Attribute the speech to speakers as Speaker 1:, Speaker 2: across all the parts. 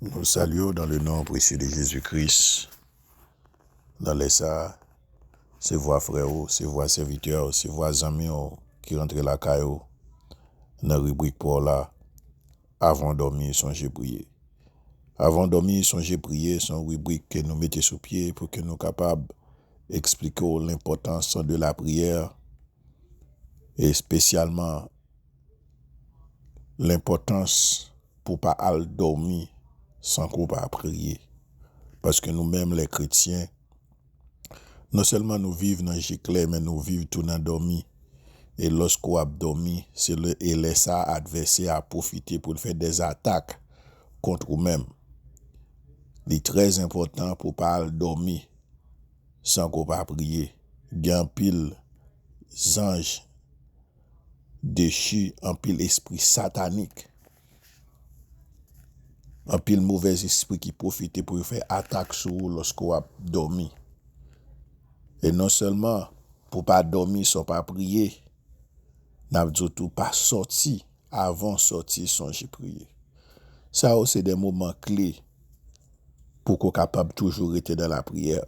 Speaker 1: Nou salye w dan le non presye de Jezi Kris. Nan lè sa a, se vwa frè ou, se vwa sèvitè ou, se vwa zanmi ou ki rantre lakay ou nan ribrik pa w la Avan w dòmi, sonje priye. Avan w dòmi, sonje priye se yon ribrik ke nou mete sou pye pou ke nou kapab eksplike w lenpòtans de lapriyè espesyalman Lenpòtans pou pa al dòmi san ke w pa priye. Paske nou menm lè kretyen, non sèlman nou viv nan je klè men nou viv tou nan dòmi. E lòske w ap dòmi, se lè e lè sa a advèsè a pwofite pou l fè dè zatak kont ou menm. Li trè enpòtan pou w pa al dòmi san ke w pa priye. Gen anpil zanj. dechi anpil espri satanik, anpil movèz espri ki pwofite pou yo fè atak sou ou lòske w ap dòmi. E non sèlman pou pa dòmi san w pa priye, n ap di w tou pa sòti avan w sòti sonje priye. Sa yo se de moman kle pou ke w kapab toujou rete nan lapriyè.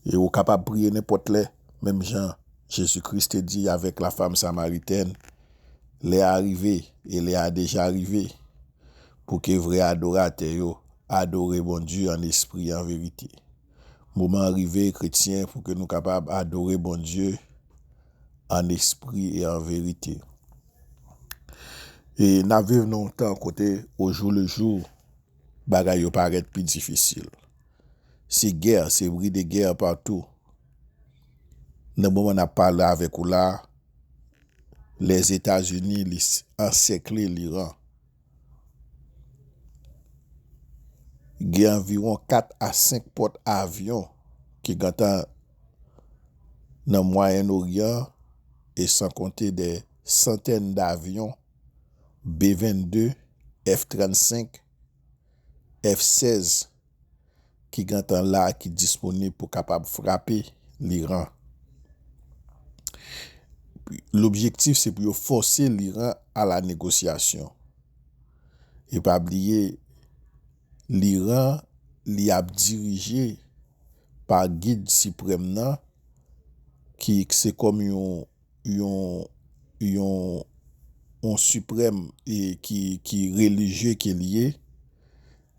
Speaker 1: E ou kapab priye nenpòt lè. Menm jan Jezi Kris te di avèk lafam Samaritèn, lè a rive, e lè a deja rive, pou ke vrè adoratè yo adore Bondye an espri e an verite. Moman an rive, kretyen, pou ke nou kapab adore Bondye an espri e an verite. E n ap viv nan yon tan kote ojou le jou, bagay yo parèt pi difisil. Se gè, se bri de gè patou. Nan moman n ap pale avèk ou la a, Lèzetazini li ansèkle Liran. Gen anviwon 4 a 5 pòt avyon ki gentan nan Mwayen Oryan e san konte dè santèn davyon B-22, F-35, F-16 ki gentan la ki disponib pou kapab frape Liran. Lobjektif se pou yo fòse Liran a la negosyasyon. E pa bliye Liran li ap dirije pa gid siprèm nan ki se kòm yon. yon yon yon siprèm ki relijye ke li ye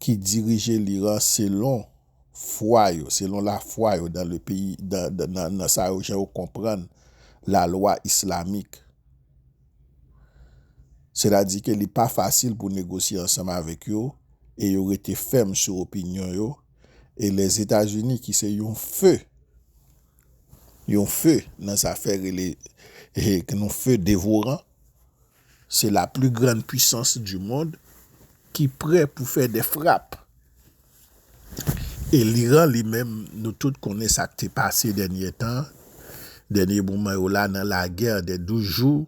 Speaker 1: ki dirije l'Iran selon fwa yo, selon la fwa yo dan le peyi nan sa yo jan yo konprann la lwa islamik. Se ta di ke li pa fasil pou negosye ansanm avèk yo e yo rete fèm sou opinyon yo e Lèzetazini ki se yon feu Yon feu nan zafè rele yon feu devoran se la plus grande puissance du monde ki prè pou fè de frap e l'Iran li menm nou tout konnen sak te pase dènyè tan dènyè moman yo la nan la guerre de 12 jours.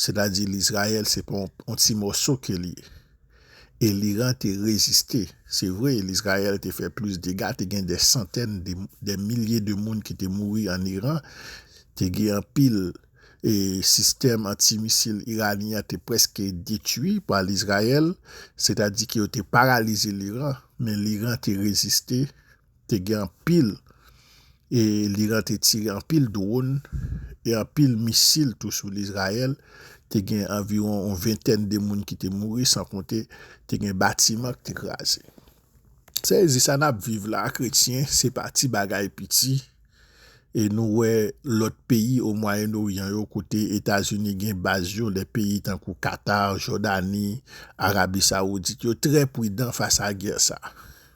Speaker 1: Sètadi Lizrayèl se pa yon ti mòso ke li ye. E Liran te reziste. Se vre, Lizrayèl te fè plis dega, te gen dè santèn, dè milye de moun ki te mouri an Iran, te gen anpil, e sistèm anti-misil iranyen an te prèske detwi pa Lizrayèl, sètadi ke yo te paralize Liran, men Liran te reziste. Te gen anpil e l'Iran te tire anpil drone e anpil misil tou sou l'Israël, te gen anviwon yon ventèn de moun ki te mouri san konte te gen batiman ki te kraze. Sa vle di sa n'ap viv la kretyen se pa ti bagay piti e nou wè lòt peyi o mwayenn oryan yo kote Etazini gen baz yo lè peyi tankou Qatar, Jordanie, Arabie Saoudite yo trè pridan fas a gè sa.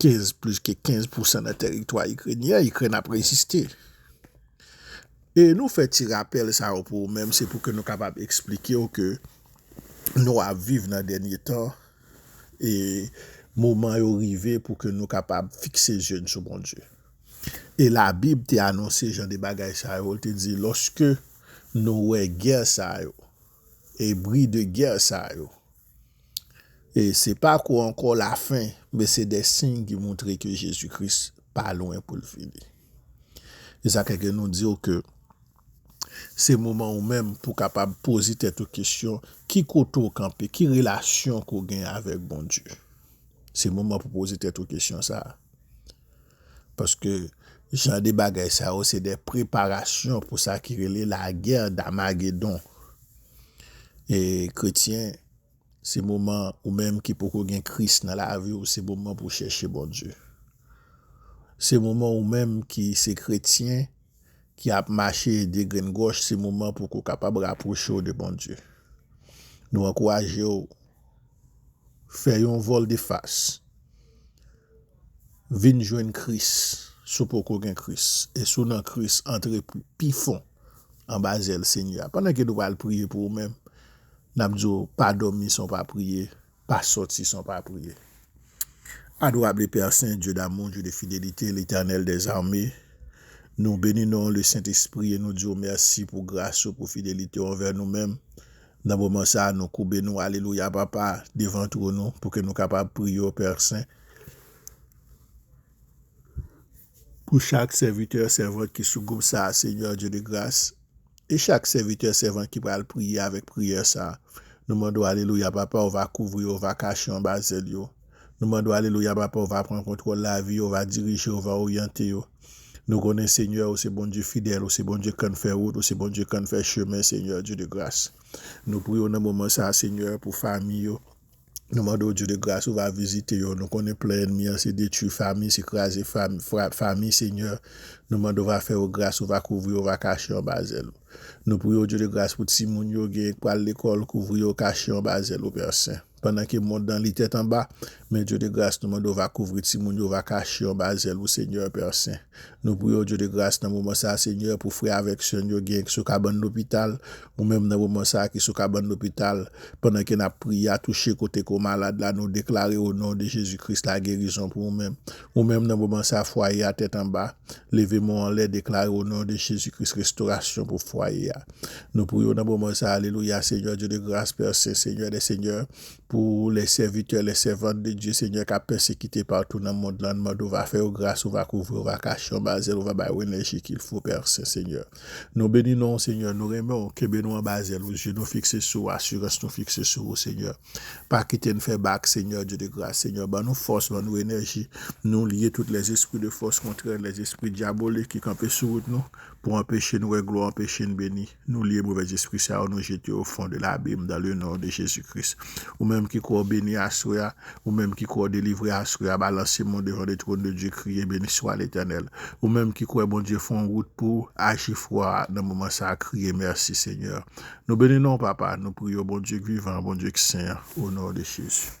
Speaker 1: 15 plis ke 15 pousan nan teritwa ikrenyen, Ikrèn ap reziste. E nou fè ti rapèl sa yo pou ou menm se pou ke nou kapab eksplike ou ke nou ap viv nan dènye tan e moman yo rive pou ke nou kapab fikse zye n sou Bondye. E labib te anonse jan de bagay sa yo, li te di lòske nou wè gè sa yo e bri de gè sa yo, E se pa kou ankò lafen, men se de siy ki montre ke Jezi Kris pa lwen pou l vini. E sa ke gen nou di w ke se moman ou menm pou kapab poze tèt ou kesyon, ki kote ou kanpe, ki relasyon ke ou gen avèk Bondye? Se moman pou poze tèt ou kesyon sa a. Paske jan de bagay sa yo se de preparasyon pou sa ki rele lagè damagedon. E kretyen se moman ou menm ki poko gen kris nan lavi ou se moman pou chèche Bondye. Se moman ou menm ki se kretyen ki ap mache de grenn gòch se moman pou ko kapab rapwoche ou de Bondye. Nou ankouraje ou fè yon vòl de fas. Vin jwenn Kris si w poko gen Kris, e si w nan Kris, antre pi fon anba zèl Senyè a. Pandan ke nou pral priye pou ou menm, n ap di w, pa dòmi san w pa priye, pa sòti san w pa priye. Adorable Père Saint, Dieu d'amour, Dieu de fidélité, l'Éternel des armées, Nou beni non ou le Sentespri e nou di w mèsi pou gras ou, pou fidelite w anvè nou menm. Nan moman sa a, nou koube nou, alelouya Papa, devan twòn ou, pou ke nou kapab priye w Père Saint. Pou chak sèvitè, sèvant ki sou gwoup sa a, Senyè Dye de gras, e chak sèvitè, sèvant ki pral priye avèk priyè sa a, nou mande ou, alelouya, Papa, ou va kouvri yo, ou va kache yo anba zèl yo. Nou mande ou, alelouya, Papa, ou va pran kontwòl lavi yo, ou va dirije yo, ou va oryante yo. Nou konnen, Senyè, ou se Bondye fidèl, ou se Bondye k konn fè wout, ou se Bondye k konn fè chemen, Senyè Dye de gras. Nou priye ou nan moman sa a, Senyè, pou fanmi yo. Nou mande w Dye de gras ou va vizite yo, nou konnen plan ènmi an se detwi fami, se kraze fami Senyè, nou mande w va fè yo gras ou va kouvri yo va kache anba zèl ou. Nou priye w Dye de gras pou timoun yo genyen k pral lekòl kouvri yo kache anba zèl ou Pè sen. Pandan ke mond lan li tèt anba, men Dye de gras nou mande w va kouvri timoun yo va kache yo anba zèl ou Senyè Pè sen. Nou priye w Dye de gras nan moman sa Senyè pou frè avèk sè n yo genyen k sou kabann lopital, Ou menm nan moman sa ki sou kabann lopital pandan ke nap priye a touche kote ko malad la nou deklare o non de Jezi Kris la gerizon pou ou menm. Ou menm nan moman sa fwaye a tèt anba leve men w anlè deklare o non de Jezi Kris restorasyon pou fwaye a. Nou priye w nan moman sa alelouya Senyè Dye de gras Pè Sen Senyè dè Senyè pou lè sèvitè lè sèvant de Dye Senyè kap pèsekite patou nan mond lan n mande w va fè yo gras ou va kouvri w va kache anba zèl ou va bay yo enèji kilfo Pè Sen Senyè. Nou beni non ou Senyè, nou renmen ou, kenbe nou anba zèl ou, je nou fikse sou ou, asirans nou fikse sou ou Senyè, pa kite n fè bak Senyè, Dye de gras Senyè, ban nou fòs, ban nou enèji, nou lye tout lèzespri de fòs kontrè, lèzespri dyabolik ki kanpe sou wout nou, pou anpeche n wè glwa, anpeche n beni, nou lye movèzespri sa yo, nou jete yo ofon de labim, dan le non de Jezi Kris, ou menm ki kwè w beni aswè a. Ou menm ki kwè w delivre aswè a balanse mou devan le trône de Dieu kriye Beniswa Letènèl Ou menm ki kwè Bondye fè yon wout pou w aji fwa a nan moman sa a kriye Mèsi Senyè Nou beni non w Papa Nou priye w Bondye k vivan an Bondye k sen an O non de Jezi.